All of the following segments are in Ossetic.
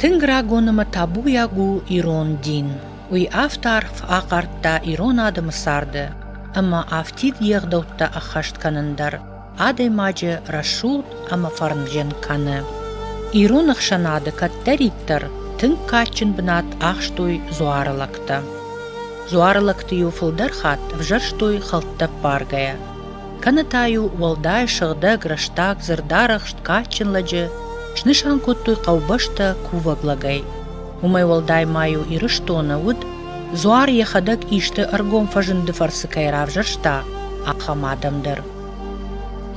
Тынг рагон ӕмӕ табуйаг у ирон дин. Уый авд арф ахъардта ирон адӕмы царды ӕмӕ афтид йе гъдӕуттӕ ӕххӕст кӕнын дӕр адӕймаджы рӕсугъд ӕмӕ фӕрнджын кӕны. Ирон ӕхсӕнады кӕддӕриддӕр тынг кадджын бынат ахстой дзуары лӕгтӕ. Дзуары лӕгты-иу фылдӕр хатт ӕвзӕрстой хӕлттӕ ппаргӕйӕ. кӕнӕ та-иу уӕлдай сыгъдӕг, рӕстаг, зӕрдӕрӕхст, кадджын лӕджы снысан кодтой хъӕубӕстӕ кувӕг лӕгӕй. Уымӕй уӕлдай ма-иу Ирыстоны уыд, дзуар йӕхӕдӕг исты ӕргом фӕзынды фӕрцы кӕй равзӕрста, ахӕм адӕм дӕр.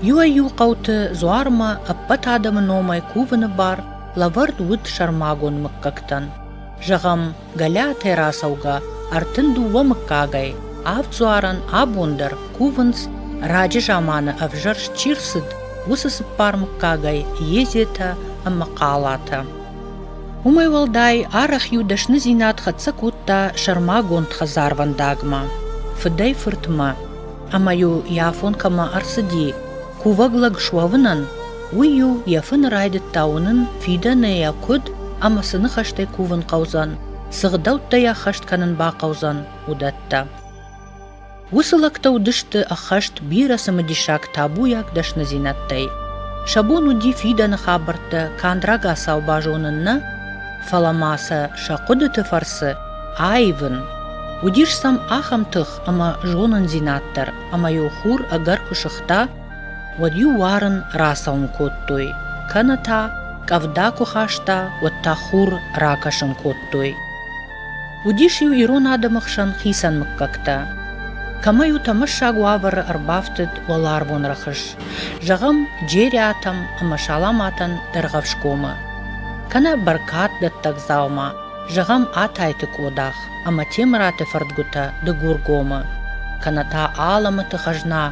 Иуӕй-иу хъӕуты дзуармӕ ӕппӕт адӕмы номӕй кувыны бар лӕвӕрд уыд сӕрмагонд мыггӕгтӕн. Зӕгъӕм, Галиатӕ рацӕугӕ ӕртын дыууӕ мыггагӕй авд дзуарӕн абон дӕр кувынц, раджы заманы ӕвзӕрст чи рцыд, уыцы цыппар мыггагӕй Езетӕ ӕмӕ Хъалатӕ. Уымӕй уӕлдай арӕх-иу дӕсныдзинад хӕццӕ кодта сӕрмагонд хӕдзарвӕндагмӕ, фыдӕй-фыртмӕ. ӕмӕ-иу йӕ афон кӕмӕ ӕрцыди кувӕг лӕг суӕвынӕн, уый-иу йӕ фыны райдыдта уынын, фидӕны йӕ куыд ӕмӕ цы ныхӕстӕй кувын хъӕудзӕн, цы гъдӕуттӕ йӕ ӕххӕст кӕнын бахъӕудзӕн, уыдӕттӕ. Уыцы лӕгтӕ уыдысты ӕххӕст бирӕ цымыдисаг табуйаг дӕсныдзинӕдтӕй. Сӕ бон уыди фидӕны хабӕрттӕ канд рагацау базонын нӕ, фӕлӕ ма сӕ сӕ хъуыдыты фӕрцы аивын. Уыдис сӕм ахӕм тых, ӕмӕ зонындзинад дӕр, ӕмӕ-иу хур ӕгӕр куы сыгъта, уӕд-иу уарын рацӕуын кодтой, кӕнӕ та къӕвда куы хаста, уӕд та хур ракӕсын кодтой. Уыдис-иу ирон адӕмы хсӕн хицӕн мыггӕгтӕ. Кӕмӕ-иу тӕмӕссаг уавӕры ӕрбафтыд уӕларвон рӕхыс, зӕгъӕм, джериатӕм ӕмӕ саламатӕн Дӕргъӕвсгомы, кӕнӕ бӕркаддӕттӕг дзаума, Зӕгъӕм, Атайты Къодах ӕмӕ Темыраты фӕрдгуытӕ Дыгургомы, кӕнӕ та Аламыты хӕзна,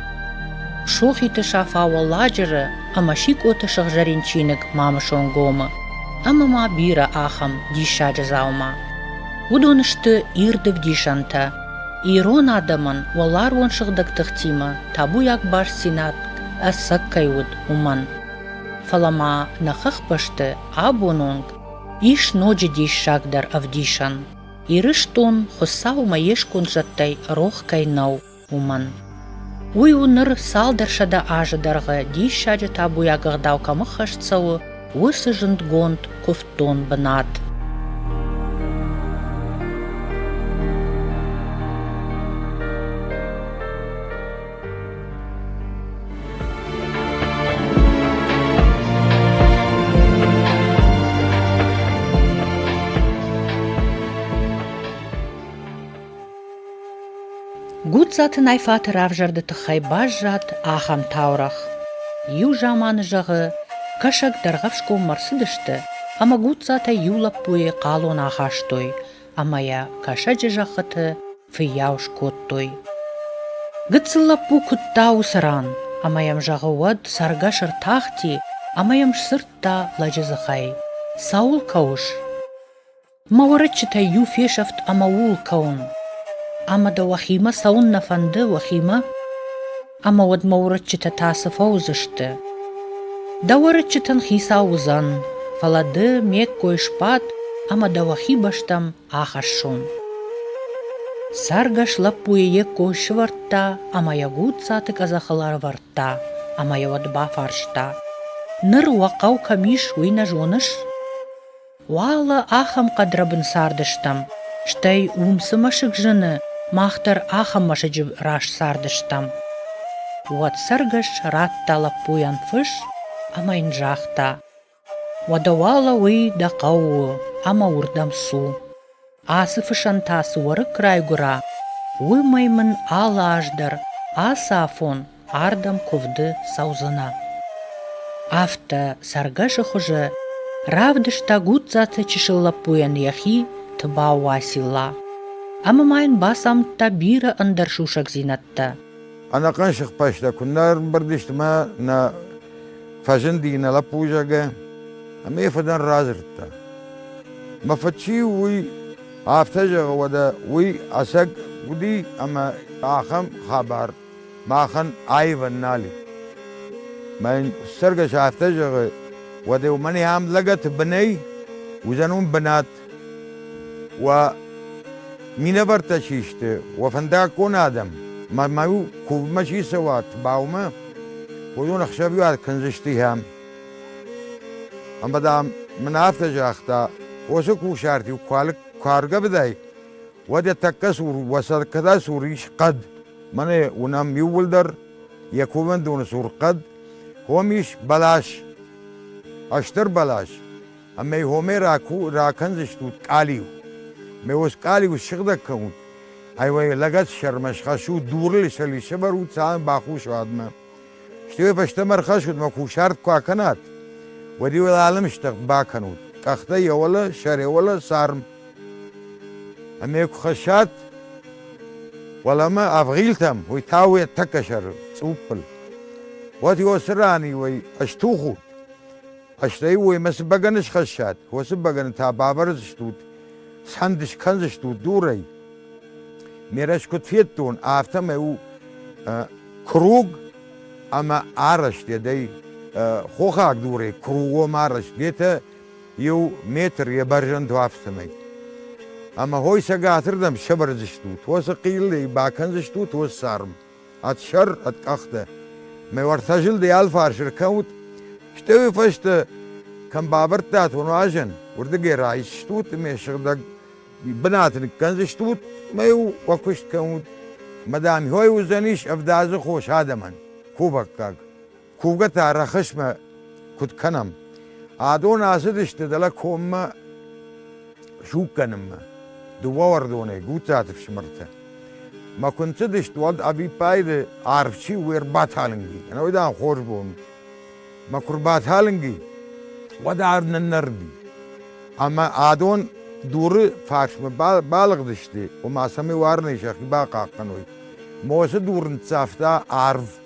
Сохиты Сафа Уӕлладжыры ӕмӕ Сикъоты сыгъзӕрин чиныг Мамысонгомы ӕмӕ ма бирӕ ахӕм диссаджы дзаума. Уыдон сты ирдыг дисӕнтӕ ирон адӕмӕн уӕларвон сыгъдӕг тыхтимӕ табуйаг бастдзинад ӕцӕг кӕй уыд, уымӕн. Фӕлӕ ма нӕ хӕхбӕсты абон онг Ис ноджы диссагдӕр ӕвдисӕн, Ирыстон Хуыцаумӕ йе сконд зӕдтӕй рох кӕй нӕу, уымӕн. Уый у ныр цалдӕр сӕдӕ азы дӕргъы диссаджы табуйаг ӕгъдау кӕм ӕххӕст цӕуы, уыцы зындгонд куывддон бынат. Гуццаты Найфаты равзӕрды тыххӕй баззад ахӕм таурӕгъ. Иу заманы, зӕгъы, кӕсӕг Дӕргъӕфсгоммӕ рцыдысты, ӕмӕ Гуццатӕй иу лӕппуйы хъалон ахастой, ӕмӕ йӕ кӕсӕджы зӕххыты фыййау скодтой. Гыццыл лӕппу куыдта уыцы ран, ӕмӕ йӕм зӕгъы уӕд цӕргӕс ӕртахти ӕмӕ йӕм сдзырдта лӕджы дзыхӕй. «Цӕуыл кӕуыс?» «Мӕ уӕрыччытӕй иу фесӕфт ӕмӕ ууыл кӕуын. Ӕмӕ дӕ уӕхимӕ цӕуыннӕ фӕнды, уӕхимӕ? Ӕмӕ уӕд мӕ уӕрыччытӕ та цы фӕуыдзысты?» «Дӕ уӕрыччытӕн хицау уыдзӕн, фӕлӕ ды ме ккой сбад, ӕмӕ дӕ уӕхи бӕстӕм Ахӕссон. Цӕргӕс лӕппуйы йе ккой сывӕрдта ӕмӕ йӕ гудзцаты къӕдзӕхыл ӕрӕвӕрдта ӕмӕ йӕ уӕд бафарста: «Ныр уӕ хъӕу кӕм ис, уый нӕ зоныс?» «Уал ахӕм хъӕдрӕбын цардыстӕм, стӕй уым цы мӕсыг зыны, мах дӕр ахӕм мӕсыджы раз цардыстӕм». Уӕд цӕргӕс радта лӕппуйӕн фыс ӕмӕ йын загъта: Уӕдӕ уӕлӕуый дӕ хъӕуы у ӕмӕ уырдӕм цу. Ацы фысӕн та цы уӕрыкк райгуыра, уымӕй мын алы аз дӕр ацы афон ардӕм куывды цӕудзынӕ. Афтӕ цӕргӕсы хуызы равдыста Гудзаты чысыл лӕппуйӕн йӕхи Тыбау Уасила. Ӕмӕ ма йын бацамыдта бирӕ ӕндӕр сусӕгдзинӕдтӕ. Ӕнӕхъӕн сыхбӕстӕ куыннӕ ӕрымбырд мӕ нӕ фӕзынди нӕ лӕппузӕгӕ, ӕмӕ йӕ фыдӕн радзырдта. Мӕ фыд чи у, уый афтӕ зӕгъы, уӕдӕ уый ӕцӕг уыди ӕмӕ ахӕм хабар махӕн аивӕн нал и. Мӕ цӕргӕс афтӕ зӕгъы, уӕдӕ уымӕн ам лӕгӕты бынӕй уыдзӕн уым бынат. Уӕ минӕвӕрттӕ чи сты, уӕ фӕндаггон адӕм, мӕ-мӕ-иу кувынмӕ чи цӕуат, баумӕ, уыдон ӕхсӕвиуат кӕндзысты йӕм. Ӕмӕ, дам, мын афтӕ загъта, уыцы кусарт-иу куы аргӕвдай, уӕд йӕ тӕккӕ цур, уӕ сӕркӕдӕй цур ис хъӕд. Мӕнӕ уынӕм иууылдӕр йӕ кувӕндоны цур хъӕд, уым ис бӕлас, ӕстӕр бӕлас. Ӕмӕ гъомӕ ракӕндзыстут къалиу. Ме ус къалиу ссыгъдӕг кӕнут. Ай-вай, лӕгӕтсӕрмӕ схӕссут дурыл сӕли сӕвӕрут сӕ бахус уадмӕ. Стӕй фӕстӕмӕ ӕрхӕссут мӕ кусарт куы акӕнат, уӕд-иу ыл алымстӕг бакӕнут. Къӕхтӕ йӕ уӕлӕ, сӕр йӕ уӕлӕ, царм. Ӕмӕ куы хӕссат уӕлӕмӕ ӕвгъилтӕм, уый та уӕ тӕккӕ сӕр цъуппыл. Уӕд-иу ацы ран-иу ӕй стухут. Стӕй уоймӕ цы бӕгӕны схӕссат, уыцы бӕгӕны та бавӕрдзыстут, сӕнд скӕндзыстут дурӕй. Ме рӕс куыд федтон, афтӕмӕй у круг ӕмӕ арӕзт дӕй хохаг дурӕй кругом арӕзт етӕ иу метр йӕ бӕрзӕнд уафтымӕй. Ӕмӕ хой цӕгатырдӕм сӕвӕрдзыстут, уоцы хъиллӕй бакӕндзыстут уоцы царм. Ӕд сӕр, ӕд къӕхтӕ. Мӕ уартӕ зылдӕй алфарс ӕркӕнут, стӕуи фӕстӕ кӕм бавӕрдтат уӕ нуазӕн, уырдыгӕй райсдзыстут, ме сыгъдӕг бынаты ныккӕндзыстут ӕмӕ-иу уӕ куыст кӕнут. Ӕмӕ, дам, хой уыдзӕнис ӕвдадзы хос адӕмӕн. Кувӕггаг. кувгӕты ӕрӕхысмӕ куыд кӕнӕм. Адон ацыдысты дӕлӕ коммӕ суггӕнынмӕ. Дыууӕ уӕрдонӕй, Гутцаты фсымӕртӕ. Мӕ куы нцыдысты, уӕд ӕвиппайды арв чи у, ӕрбаталынги. Ӕнӕуый, дам, хорз бон. Мӕ куы рбаталынги, уӕд арв ныннӕрди. Ӕмӕ адон дуры фарсмӕ балыгъдысты, ома цӕмӕй уарынӕй сӕхи бахъахъхъӕной. Мосы дур ныццавта арв.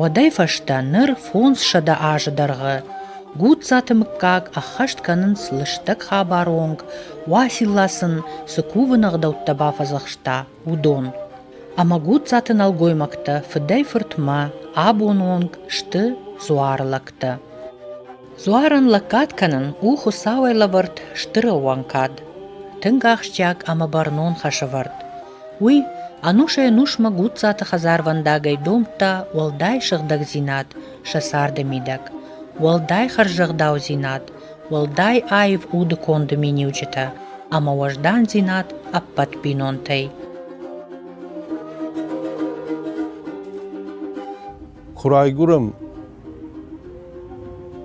Уӕдӕй фӕстӕ ныр фондзсӕдӕ азы дӕргъы Гудзаты мыггаг ӕххӕст кӕнынц лыстӕг хабаронг, Уасилла сын цы кувыны ӕгъдӕуттӕ бафӕдзӕхста, уыдон. Ӕмӕ Гудзаты нӕлгоймӕгтӕ фыдӕй-фыртмӕ абон онг сты дзуары лӕгтӕ. Дзуарӕн лӕггад кӕнын у Хуыцауӕй лӕвӕрд стыр ӕууӕнкад. Тынг ахсджиаг ӕмӕ бӕрнон хӕсӕвӕрд. Уый ӕнусӕй-ӕнусмӕ Гудзаты хӕдзарвӕндагӕй домдта уӕлдай сыгъдӕгдзинад сӕ царды мидӕг, уӕлдай хӕрзӕгъдаудзинад, уӕлдай аив уды конды миниуджытӕ ӕмӕ уӕздандзинад ӕппӕт бинонтӕй. Куы райгуырӕм,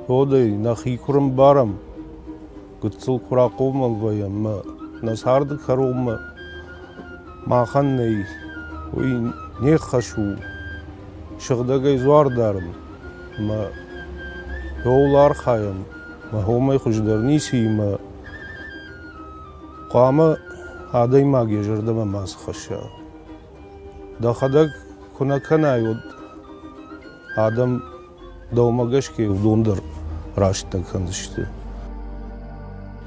уӕдӕй нӕхи куы рымбарӕм, гыццыл куы рахъомыл вӕййӕм ӕмӕ нӕ царды кӕронмӕ махӕн нӕй, уый не хӕс у сыгъдӕгӕй дзуар дарын ӕмӕ ууыл архайӕм, ӕмӕ уымӕй хуыздӕр ницыимӕ хъуамӕ адӕймаг йӕ зӕрдӕмӕ мацы хӕсса. Дӕхӕдӕг куы нӕ кӕнай уӕд адӕм дӕумӕ гӕсгӕ уыдон дӕр рӕстӕг кӕндзысты.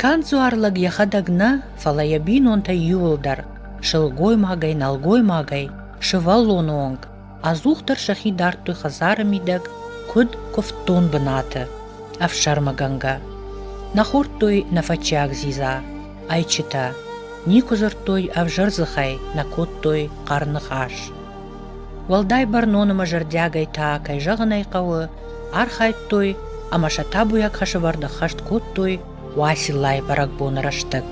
Канд дзуар лӕг йӕхӕдӕг нӕ, фӕлӕ йӕ бинонтӕ иуылдӕр, сылгоймагӕй, нӕлгоймагӕй, сывӕллоны онг, ӕдзухдӕр сӕхи дардтой хӕдзары мидӕг, куыд куывддон бынаты, ӕфсӕрмыгӕнгӕ. Нӕ хордтой нӕ фӕччиаг дзидза, Ӕйчытӕ никуы дзырдтой ӕвзӕр дзыхӕй, нӕ кодтой хъӕр ныхас. Уӕлдай бӕрнон ӕмӕ зӕрдиагӕй та, кӕй зӕгъын ӕй хъӕуы, архайдтой ӕмӕ сӕ табуйаг хӕсывӕрд ӕххӕст кодтой Уациллайы бӕрӕгбоны рӕстӕг.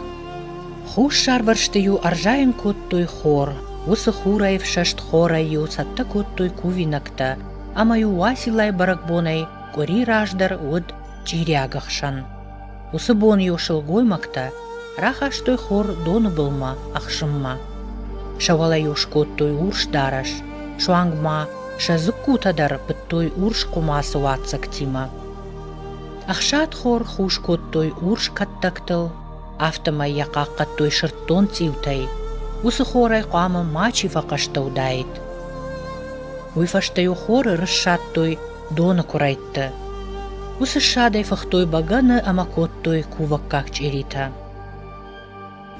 Хуссарвӕрсты-иу ӕрзайын кодтой хор, уыцы хурӕй ӕфсӕст хорӕй-иу цӕттӕ кодтой кувинӕгтӕ, ӕмӕ-иу Уациллайы бӕрӕгбонӕй къуыри раздӕр уыд чъириаг ӕхсӕн. Уыцы бон-иу сылгоймӕгтӕ рахастой хор доны былмӕ ӕхсынмӕ. Сӕ уӕлӕ-иу скодтой урс дарӕс, суанг ма сӕ дзыккутӕ дӕр пыдтой урс хъуымацы уаццӕгтимӕ. Ӕхсадхор хус кодтой урс кӕттӕгтыл, афтӕмӕй йӕ хъахъхъӕдтой сырддон цъиутӕй. Уыцы хорӕй хъуамӕ мачи фӕхъӕстӕ уыдаид. Уый фӕстӕ-иу хоры рыссадтой доны куырӕйтты. Уыцы ссадӕй фыхтой бӕгӕны ӕмӕ кодтой кувӕггаг чъиритӕ.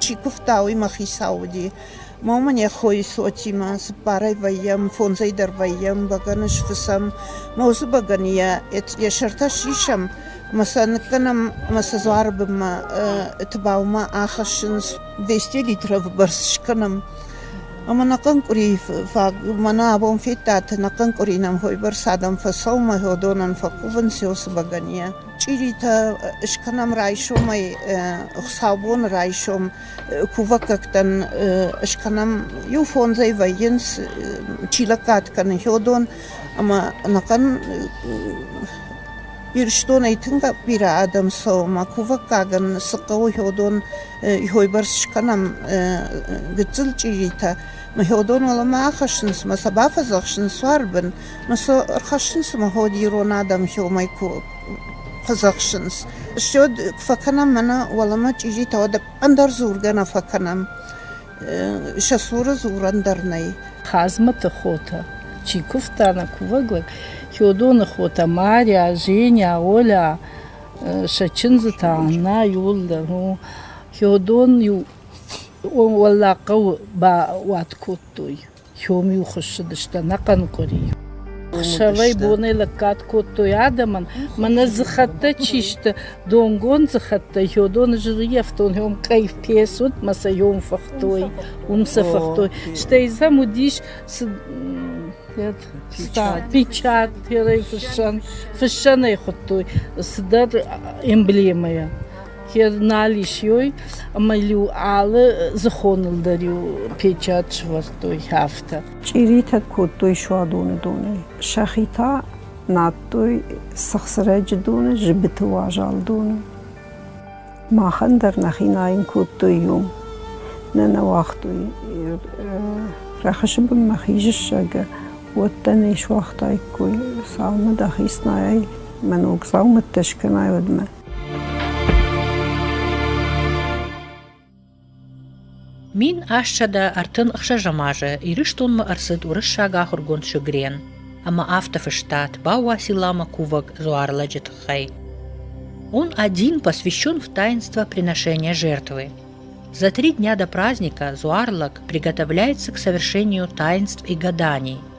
Чи куывта, уый мӕ хицау уыди. Ма уымӕн йӕ хойы цотимӕ цыппарӕй вӕййӕм, фондзӕй дӕр вӕййӕм, бӕгӕны сфыцӕм. Мӕ уыцы бӕгӕны йӕ йӕ сӕртӕ сисӕм, ӕмӕ сӕ ныккӕнӕм ӕмӕ сӕ дзуары бынмӕ Тыбаумӕ ахӕссынц. 200 литров бырс скӕнӕм. Ӕмӕ нӕ хъынкъуыри фаг мӕнӕ абон федтат, нӕ хъынкъуыри нӕм хойбӕрц адӕм фӕсаумӕ, уыдонӕн фӕкувынц уыцы бӕгӕнийӕ. Чъиритӕ скӕнӕм райсомӕй, хуыцаубоны райсом кувӕггӕгтӕн скӕнӕм. Иу фондзӕй вӕййынц, чи лӕггад кӕны, хьодон ӕмӕ ӕнӕхъӕн Ирыстонӕй тынг бирӕ адӕм цӕуы ӕмӕ кувӕггагӕн цы хъӕуы хёдон хойбӕрц скӕнӕм гыццыл чъиритӕ. Мӕ хёдон уӕлӕмӕ ахӕссынц мӕ сӕ бафӕдзӕхсынц суарбын, мӕ сӕ ӕрхӕссынц ӕмӕ ход ирон адӕм хёмӕй фӕдзӕхсынц. Стӕй фӕкӕнӕм мӕнӕ уӕлӕмӕ чъиритӕ, уӕдӕ ӕндӕр дзургӕ нӕ фӕкӕнӕм. сӕ цуры дзурӕн дӕр нӕй. Хъазмӕты хотӕ, чи куывта нӕ кувӕг лӕг, Хёдоны хотӕ Маря, Женя, Оля, сӕ чындзытӕ Анна иуыл дӕр у. Хёдон иу уӕллаг хъӕуы бауат кодтой. Хьом-иу хуыссыдысты ӕнӕхъӕн къуыри. Сӕвӕй-бонӕй лӕггад кодтой адӕмӕн, мӕнӕ дзыхӕттӕ чи сты, донгон дзыхӕттӕ, ёдоны жирыйӕфтон, ём къӕй фес уыд, мӕ сӕ ём фыхтой, уым сӕ фыхтой. Стӕй дзӕм уыдис печать, фыссӕн, фыссӕнӕй хуыдтой цыдӕр эмблемӕйӕ. Йӕ нал ис иой, ӕмӕ-иу алы зыхоныл дӕр-иу печать сӕвӕрдтой афтӕ. Чъиритӕг кодтой суадоны донӕй. Сӕхи та надтой сыгъсырӕджы доны, зыбыты уазал доны. Махӕн дӕр нӕхи найын кодтой иом. Нӕ нӕ уагътой. Рӕхысы бынмӕ хизыссӕгы уӕттӕ не суагътаиккой. Саумӕ дӕхи снайай, мӕ ног дзаумӕттӕ скӕнай уӕдмӕ. Мин ӕссӕдӕ ӕртын ӕхсӕзӕм азы Ирыстонмӕ ӕрцыд уырыссаг ахуыргонд сugрен ӕмӕ афтӕ фыстат Бауа силама кувӕг дзуарлӕджы тыххӕй. Он один посвящен в таинство приношения жертвы. За три дня до праздника Зуарлак приготовляется к совершению таинств и гаданий –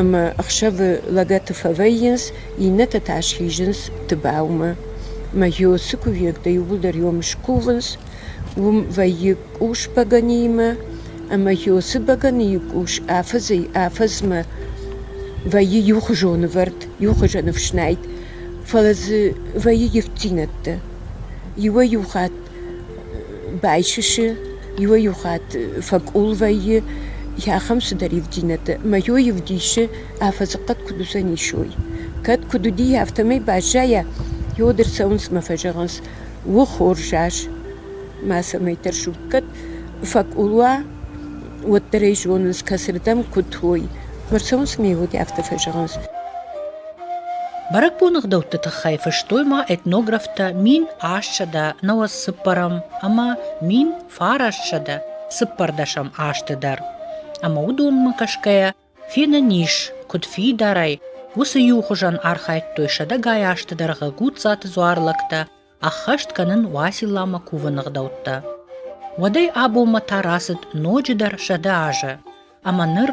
ӕмӕ ӕхсӕвы лӕгӕты фӕвӕййынц, иннӕтӕ та схизынц Тыбаумӕ. Мӕ ёсы кувӕгтӕ иууылдӕр ём скувынц, уым вӕййы къус бӕгӕныимӕ, ӕмӕ ёсы бӕгӕныйы къус афӕдзӕй-афӕдзмӕ вӕййы иухуызон ӕвӕрд, иухуызон ӕфснайд, фӕлӕ дзы вӕййы ивддзинӕдтӕ. Иуӕй-иу хатт Байсысы, иуӕй-иу хатт фӕкъул вӕййы ахӕм цыдӕр ивдинӕтӕ, ӕмӕ йой ӕвдисы, афӕдзыхъӕд куыд уыдзӕн исой. Кӕд куыд уыди, афтӕмӕй баззайа, йод ӕрцӕуынц мӕ фӕзӕгъынц: «Уы хорзас, мацӕмӕйтӕр зут». Кӕд фӕкъул уа, уӕддӕр ӕй зонынц, кӕцырдӕм куыд уой. Ӕмӕ ӕрцӕуынц мӕ йод, афтӕ фӕзӕгъынц. Бӕрӕгбоны гъдӕутты тыххӕй фыстой ма этнографтӕ мин ассӕдӕ нӕуӕдцыппӕрӕм ӕмӕ мин фарассӕдӕ цыппӕрдӕсӕм азты дӕр, ӕмӕ уыдонмӕ кӕсгӕйӕ фенӕн ис, куыд фидарӕй, уыцы иу хуызӕн архайдтой сӕдӕгай азты дӕргъы Гудзаты дзуар лӕгтӕ ӕххӕст кӕнын Уасилламӕ кувыны гъдӕуттӕ. Уӕдӕй абонмӕ та рацыд ноджыдӕр сӕдӕ азы, ӕмӕ ныр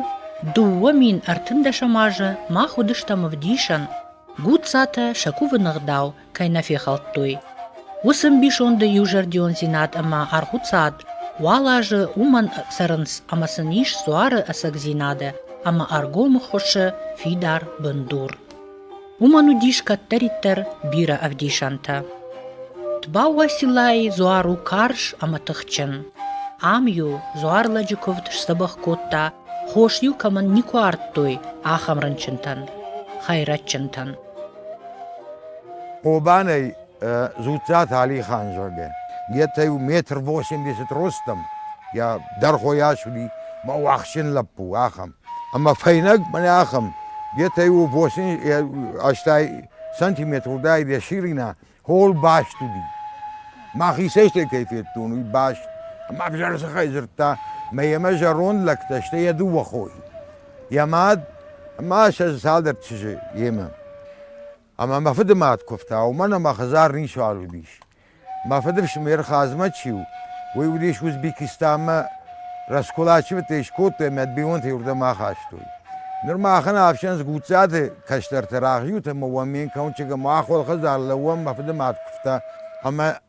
дыууӕ мин ӕртындӕсӕм азы мах уыдыстӕм ӕвдисӕн, Гуццатӕ сӕ кувыны гъдау кӕй нӕ фехӕлдтой. Уыцы ӕмбисонды иузӕрдиондзинад ӕмӕ аргъуцад уал азы уымӕн цӕрынц, ӕмӕ сын ис дзуары ӕцӕгдзинады ӕмӕ ӕргомы хуысы фидар бындур. Уымӕн уыдис кӕддӕриддӕр бирӕ ӕвдисӕнтӕ. Тбауасилайы дзуар у карз ӕмӕ тыхджын. Ам-иу дзуарлӕджы куывд сдзӕбӕх кодта, хос-иу кӕмӕн никуы ардтой, ахӕм рынчынтӕн, хӕйрӕджджынтӕн. Хъобанӕй Дзуццаты Алихан, зӕгъгӕ, етӕ-еу метр восемьдесят ростом, йа, дӕргъойас уыди, мӕ уӕхсджын лӕппу, ахӕм. Ӕмӕ фӕйнӕг мӕнӕ ахӕм, етӕ-еу восемь ӕстай сантиметр удаид йӕ ширина, хол баст уыди. Мӕхицӕй стӕй кӕй федтон, уый баст. Ӕмӕ ӕвзӕр дзыхӕй дзырдта, мӕ йемӕ зӕронд лӕгтӕ, сты йӕ дыууӕ хойы, йӕ мад ӕмӕ сӕ цалдӕр чызджы йемӕ. Ӕмӕ мӕ фыды мад куывта, уымӕн ӕмӕ хӕдзар ницуал уыдис. Мӕ фыдыфсымӕр Хъазмӕт-иу уый уыдис Узбекистанмӕ, раскулачивӕдтӕ скодтой ӕмӕ бинонтӕй уырдӕм ахастой. Ныр махӕн ӕфсӕн Гуццаты кӕстӕрты рӕгъиуты ӕмӕ уӕ ме нкъуынджы ӕмӕ ахуыр хӕдзар лӕууӕн мӕ фыды мад куывта ӕмӕ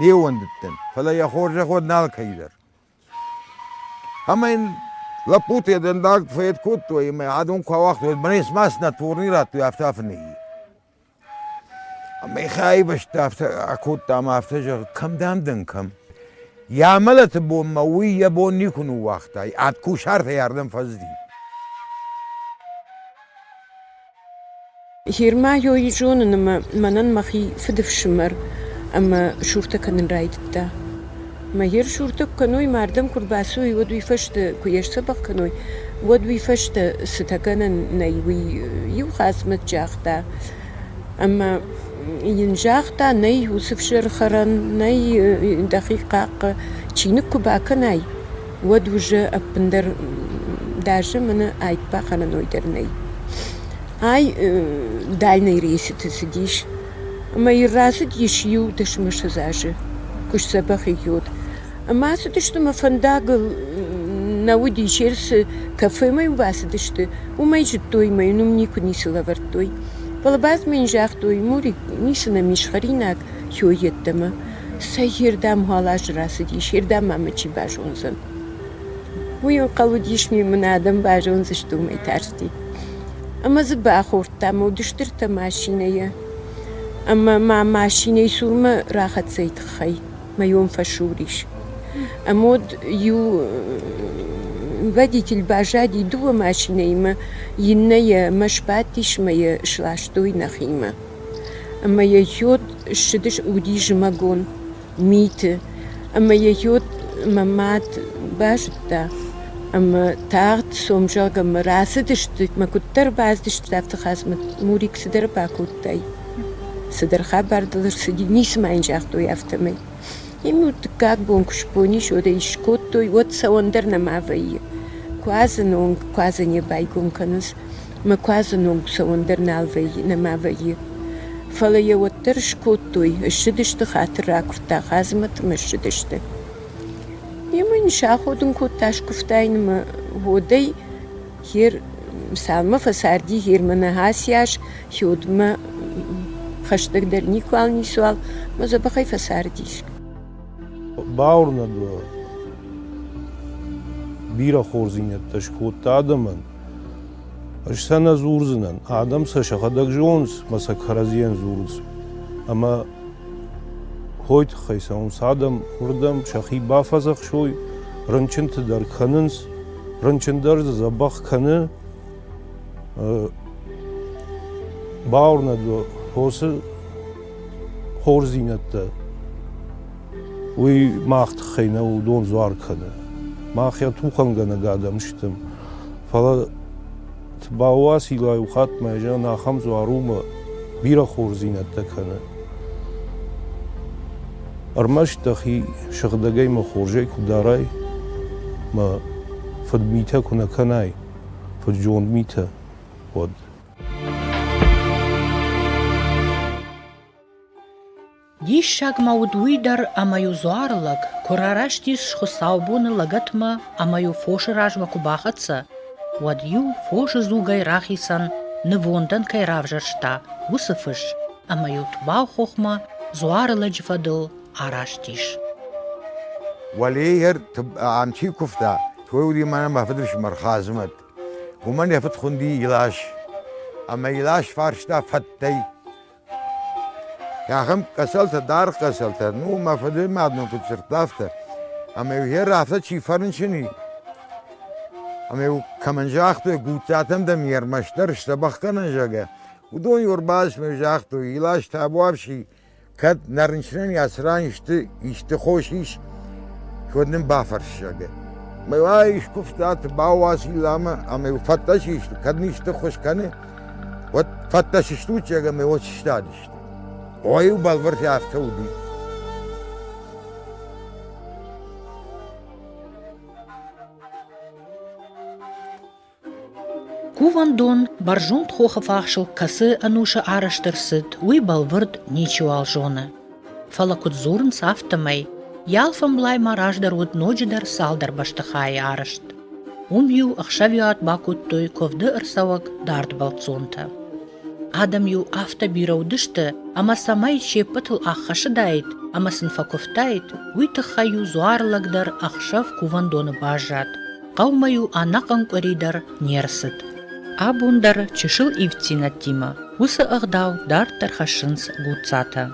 Не ууӕндыдтӕн, фӕлӕ йӕ хорзӕход нал кӕйдӕр. Ӕмӕ йын лӕппуты йӕ дӕндаг фӕед кодтой ӕмӕ адон куы ауагътой, бынӕй смӕ цынӕ турни радтой, афтӕ афы нӕйи. Ӕмӕ йӕхи аивӕзта афтӕ акодта ӕмӕ афтӕ зӕгъы, кӕм дӕм дӕн, кӕм? Йӕ амӕлӕты бонмӕ уый йӕ бон никуы ныууагъта, ад кусартӕй ардӕм фӕзди. Гермайой зонын ӕмӕ мӕнӕн мӕхи фыдыфсымӕр ӕмӕ суртӕ кӕнын райдыдта. Ӕмӕ йе рсуртӕ куы кӕной, мардӕн куы рбацӕуой, уӕд уый фӕстӕ куы йӕ сдзӕбӕх кӕной, уӕд уый фӕстӕ цытӕ гӕнӕн нӕй, уый иу хъӕцмӕт загъта. Ӕмӕ йын загъта: нӕй уыцы фсӕры хӕрӕн, нӕй дӕхи хъахъхъӕ, чиныг куы бакӕнай. уӕд уызы ӕппындӕр дӕ зымыны ӕйт бахӕрӕн ой дӕр нӕй. Ай дальнай рейсыты цыдис, ӕмӕ йын рацыдис иу дысмысыз азы, куы сдзӕбӕх идиот. Ӕмӕ ацыдысты мӕ фӕндагыл, нӕ уыди Черсы кафемӕ-иу бацыдысты, уымӕй зыдтой мӕ йын уым никуы ницы лӕвӕрдтой. Фӕлӕ бадзмӕ йын загътой, Мурик, ницы нӕм ис хӕринаг хёй йеддӕмӕ. Цӕйирдӕм гъӕлӕс рацыдис, ирдӕм мӕ мычи базондзӕн. Уый ӕнхъӕл уыдис, мын адӕм базондзысты уымӕй тарсти. Ӕмӕ дзы бахордтам Одыстыртӕ машинӕйӕ. Ӕмӕ мӕ машинӕйы цурмӕ рахӕццӕйы тыххӕй мӕйон фӕсур ис. Ӕмӕ уӕд иу водитель баззади дыууӕ машинӕимӕ, иннӕ йӕ ӕмӕ сбадтис ӕмӕ йӕ сластой нӕхимӕ. Ӕмӕ йӕ хиод ссыдис уыди зымӕгон миты, ӕмӕ йӕ хиод мӕ мад базыдта ӕмӕ тагъд сомзӕгъгӕмӕ рацыдысты мӕ куыддӕр бацыдысты, афтӕ Мурик цыдӕр бакодтай, цыдӕр хабар дыл ӕрцыди, ницы ма йын загътой афтӕмӕй. Йын-иу дыккаг бон куы сбон ис, уӕд ӕй скодтой, уӕд цӕуӕн дӕр нӕма вӕййы. Куадзы нонг, куадзы не байгом кӕнынц. Мӕ куадзы ном цӕуӕн дӕр нал вӕййы, нӕма вӕййы. Фӕлӕ йӕ уӕддӕр скодтой, ссыдысты хатыр ракуырдта Хъазмӕт ӕмӕ ссыдысты. Йемӕ йын саходын кодта скуывтаин ӕмӕ уӕдӕй Хер Мсалмӕ фӕцарди Херманы аци аз Хёдмӕ хӕстӕгдӕр никуал ницуал мӕ дзӕбӕхӕй фӕцардис. Бауырнӕд уӕ, бирӕ хорздзинӕдтӕ скодта адӕмӕн, Ӕз сӕ нӕ дзурдзынӕн, адӕм сӕ сӕхӕдӕг зонынц мӕ сӕ кӕрӕдзийӕн дзурынц. Ӕмӕ хойы тыххӕй цӕуынц адӕм, уырдӕм сӕхи бафӕдзӕхсой, рынчынты дӕр кӕнынц. Рынчын дӕр дзы дзӕбӕх кӕны. Бауырнӕд уӕ, фосы хорздзинӕдтӕ уый мах тыххӕй нӕ уыдон дзуар кӕны. Мах йӕ тухӕнгӕнӕг адӕм стӕм. Фӕлӕ цы бауасила иухатт мӕ зӕн, ахӕм дзуар у бирӕ хорздзинӕдтӕ кӕны. Ӕрмӕст дӕхи сыгъдӕгӕй мӕ хорзӕй куы дарай, мӕ фыдмитӕ куы нӕ кӕнай, фыд-зонд митӕ, уӕд. Диссаг ма уыд уый дӕр, ӕмӕ-иу дзуары лӕг куы рараст ис хуыцаубоны лӕгӕтмӕ ӕмӕ-иу фосы размӕ куы бахӕццӕ, уӕд-иу фосы дзугӕй рахицӕн, нывондӕн кӕй равзӕрста, уыцы фыс, ӕмӕ-иу Тубауыхохмӕ дзуары лӕджы фӕдыл араст ис. Уӕлейӕ антик куывта, той уыди мӕнӕ мӕ фыдыфсымӕр Хадзымӕт. Уымӕн йӕ фыд хуынди Илас. Ӕмӕ Илас фарста фӕттӕй, Ахӕм къӕсӕлтӕ, даргъ къӕсӕлтӕ, ну, мӕ фыдымад нын куыд дзырдта, афтӕ. Ӕмӕ-иу йӕ рафтӕ чи фӕрынчын и, ӕмӕ-иу кӕмӕн загътой, Гуццатӕм дӕм йе рмӕстдӕр сдзӕбӕх кӕнын, зӕгъгӕ, уыдон йӕ ӕрбацыдмӕ загътой, Илас табуафси, кӕд нӕ рынчынӕн йӕ цыран исты, исты хос ис, уӕд нын бафӕрс, зӕгъгӕ. Мӕ уай скуывта, ты бауа Силламӕ, ӕмӕ-иу фӕдтӕ чи сты, кӕд ын исты ххуыс кӕны, Уӕд фӕттӕ сыстут зӕгӕмӕ уод сыстадысты. Ой-иу бӕлвырд афтӕ уыди. Кувӕндон бӕрзонд хохы фахсыл кӕцы ӕнусы арӕзт ӕрцыд, уый бӕлвырд ничиуал зоны. Фӕлӕ куыд дзурынц, афтӕмӕй йӕ алфӕмблай ма раздӕр уыд ноджыдӕр цалдӕр бӕстыхайы арӕзт. Уым-иу ӕхсӕвиат бакодтой куывды ӕрцӕуӕг дард бӕлццонтӕ. Адӕм-иу афтӕ бирӕ уыдысты, ӕмӕ цӕмӕй се ппӕтыл ӕххӕсыдаид ӕмӕ сын фӕкуывтаид, уый тыххӕй-иу дзуар лӕгдӕр ӕхсӕв кувӕндоны баззад. Хъӕумӕ-иу ӕнӕхъӕн къуыри дӕр не рцыд. Абон дӕр чысыл ивддзинӕдтимӕ уыцы ӕгъдау дарддӕр хӕссынц гуццатӕ.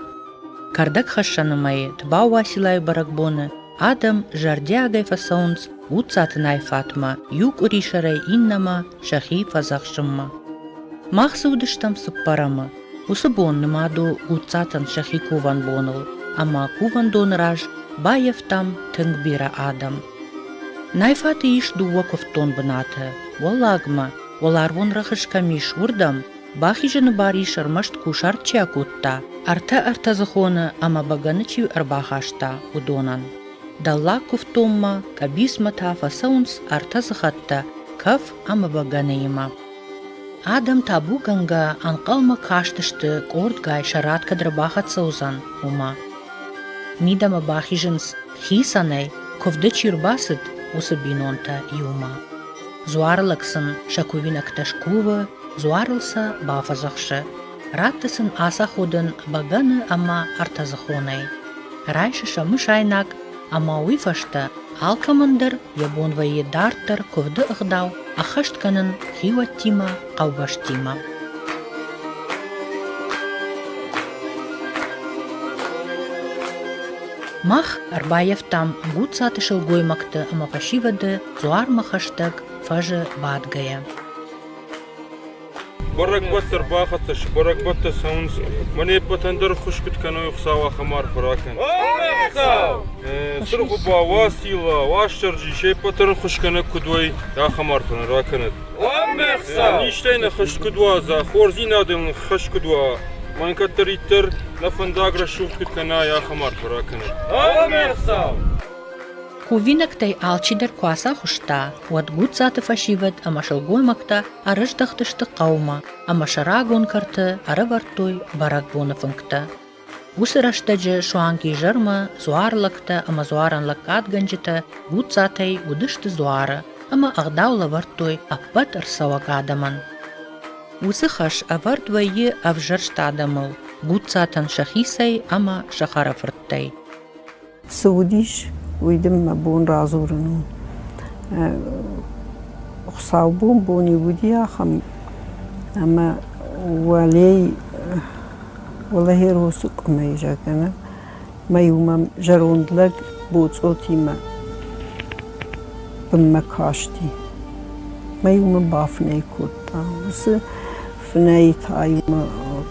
Кӕрдӕгхӕссӕны мӕйы Тбауасилайы бӕрӕгбоны адӕм зӕрдиагӕй фӕцӕуынц гуццаты найфатмӕ иу къуырисӕрӕй иннӕмӕ сӕхи фӕдзӕхсынмӕ. Мах дзы уыдыстӕм цыппӕрӕмы, Уыцы бон нымад у Гуццатӕн сӕхи кувӕн боныл, ӕмӕ кувӕндоны раз баййӕфтам тынг бирӕ адӕм. Найфаты ис дыууӕ куывддон бынаты. Уӕллагмӕ, уӕларвон рӕхыс кӕм ис, уырдӕм, бахизыны бар ис ӕрмӕст кусарт чи акодта, ӕртӕ-ӕртӕдзыхоны ӕмӕ бӕгӕны чи ӕрбахаста, уыдонӕн. Дӕллаг куывддонмӕ, къӕбицмӕ та фӕцӕуынц ӕртӕ сыхӕттӕ кӕф ӕмӕ бӕгӕныимӕ. Адӕм табугӕнгӕ ӕнхъӕлмӕ кастысты, къордгай сӕ рад кӕд ӕрбахӕццӕ уыдзӕн, уымӕ. Мидӕмӕ бахизынц хицӕнӕй, куывды чи рбацыд, уыцы бинонтӕ иумӕ. Дзуары лӕг сын сӕ кувинӕгтӕ скувы, дзуарыл сӕ бафӕдзӕхсы. Радты сын ацаходын бӕгӕны ӕмӕ ӕртӕдзыхонӕй. Райсы сӕ мысайнаг ӕмӕ уый фӕстӕ алкӕмӕн дӕр йӕ бон вӕййы дарддӕр куывды ӕгъдау ӕххӕст кӕнын хиуӕттимӕ, хъӕубӕстимӕ. Мах ӕрбаййӕфтам Гуццаты сылгоймӕгты ӕмӕ фӕсивӕды дзуармӕ хӕстӕг фӕзы бадгӕйӕ. Бӕрӕгбӕтты ӕрбахӕццӕ сты, бӕрӕгбӕттӕ цӕуынц. Мӕн не ппӕтӕн дӕр хуъсгуыт кӕной Хуыцау ахӕм арфӕ ракӕн. Сырхуба, Уацилла, Уастырджи, се ппӕты рхуысгӕнӕг куыд уой, ахӕм арфӕ нын ракӕнӕд. Низтӕй нӕ хӕст куыд уадза, хорздзинадыл нын хӕс куыд уа, мӕн кӕддӕриддӕр нӕ фӕндаг рӕсугъд куыд кӕнай, ахӕм арфӕ ракӕнӕд. Кувинӕгтӕй алчидӕр куы ацахуыста, уӕд Гудзаты фӕсивӕд ӕмӕ сылгоймӕгтӕ ӕрыздӕхтысты хъӕумӕ ӕмӕ сӕ рагон кӕрты ӕрӕвӕрдтой бӕрӕгбоны фынгтӕ. Уыцы рӕстӕджы суанг изӕрмӕ дзуар лӕгтӕ ӕмӕ дзуарӕн лӕггадгӕнджытӕ Гудзатӕй уыдысты дзуары ӕмӕ ӕгъдау лӕвӕрдтой ӕппӕт ӕрцӕуӕг адӕмӕн. Уыцы хӕс ӕвӕрд вӕййы ӕвзӕрст адӕмыл, Гудзатӕн сӕхицӕй ӕмӕ сӕ хӕрӕфырттӕй. Цы уыдис, уый дын мӕ бон радзурын у. Хуыцаубон бон-иу уыди ахӕм, ӕмӕ уӕлей уӕлӕхеросы къуымӕй, зӕгъгӕ, мӕ-иу мӕм зӕронд лӕг боцъотимӕ бынмӕ касти. Мӕ-иу мын бафынӕй кодта. Уыцы фынӕйы та-иу мӕ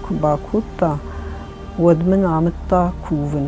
куы бакодта, уӕд мын амыдта кувын.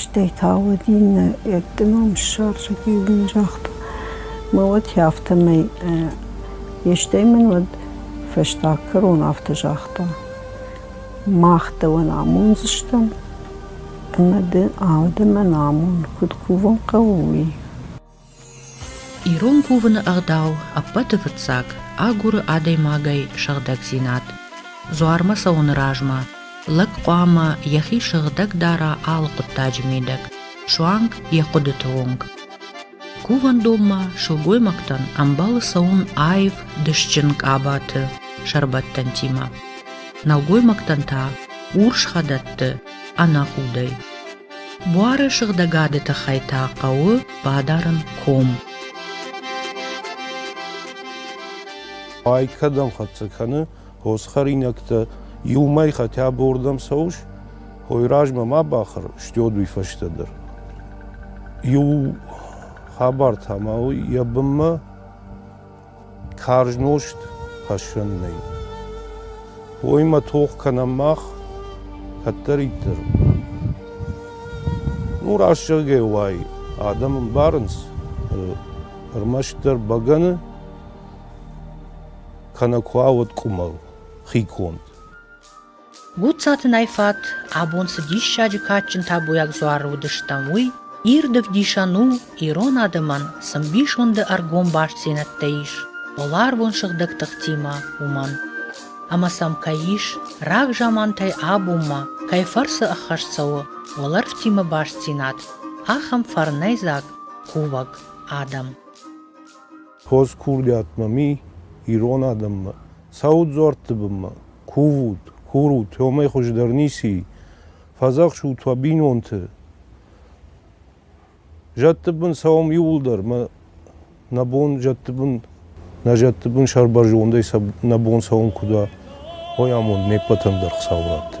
Стӕй та уыд иннӕ, йӕдты ном ссарджыт иу мын загъта, мӕ уӕд афтӕмӕй йе стӕй мын уӕд фӕстаг кӕрон афтӕ загъта: мах дӕуӕн амондзыстӕм ӕмӕ ды ӕмӕ дӕ мӕн амон, куыд кувын хъӕуы, уый. Ирон кувыны ӕгъдау ӕппӕты фыццаг агуры адӕймагӕй сыгъдӕгдзинад. Дзуармӕ цӕуыны размӕ лӕг хъуамӕ йӕхи сыгъдӕг дара алы хъуыддаджы мидӕг, суанг йӕ хъуыдыты онг. Кувӕндонмӕ сылгоймӕгтӕн ӕмбӕлы цӕуын аив дысджын къабаты сӕрбӕттӕнтимӕ. Нӕлгоймӕгтӕн та урс хӕдӕтты ӕнӕхудӕй. Буары сыгъдӕгады тыххӕй та хъӕуы бадарын ком. Ай кӕдӕм хӕццӕ кӕны, хосы хӕринӕгтӕ иумӕ хатӕ бордӕм цӕуыс, хой размӕ ма бахӕр, стёд уый фӕстӕ дӕр. Иу хабар та ма у йӕ бынмӕ Карз нозт хӕссӕн нӕй. Уоймӕ тох кӕнӕм мах кӕддӕриддӕр. Ну, раст зӕгъгӕ уай, адӕм ӕмбарынц ӕрмӕстдӕр бӕгӕны, кӕнӕ куа уӕд къуымӕл, хи конд. Гуццатынӕй фат, абон цы диссаджы кадджын табуйаг дзуары уыдыстӕм, уый ирд ӕвдисӕн у, ирон адӕмӕн цы мбисонды ӕргом бастдзинӕдтӕ ис поларвон сыгъдӕг тыхтимӕ, уымӕн. Ӕмӕ сӕм кӕй ис, рагзамантӕй абонмӕ кӕй фӕрцы ӕххӕст цӕуы уӕлӕрвтимӕ бастдзинад, ахӕм фӕрнӕйдзаг кувӕг адӕм. Хорз курдиатмӕ ми, ирон адӕммӕ, цӕут дзуӕртты бынмӕ, кувут, курут, уымӕй хуыздӕр ницы и. Фӕдзӕхсут уӕ бинонты. Зӕдты бын цӕуӕм иууылдӕр, мӕ нӕ бон зӕдты бын, нӕ зӕдты бын сӕрбӕрзондӕй сӕ нӕ бон цӕуын куыд уа, уый амонд не ппӕтӕн дӕр Хуыцауы рӕтты.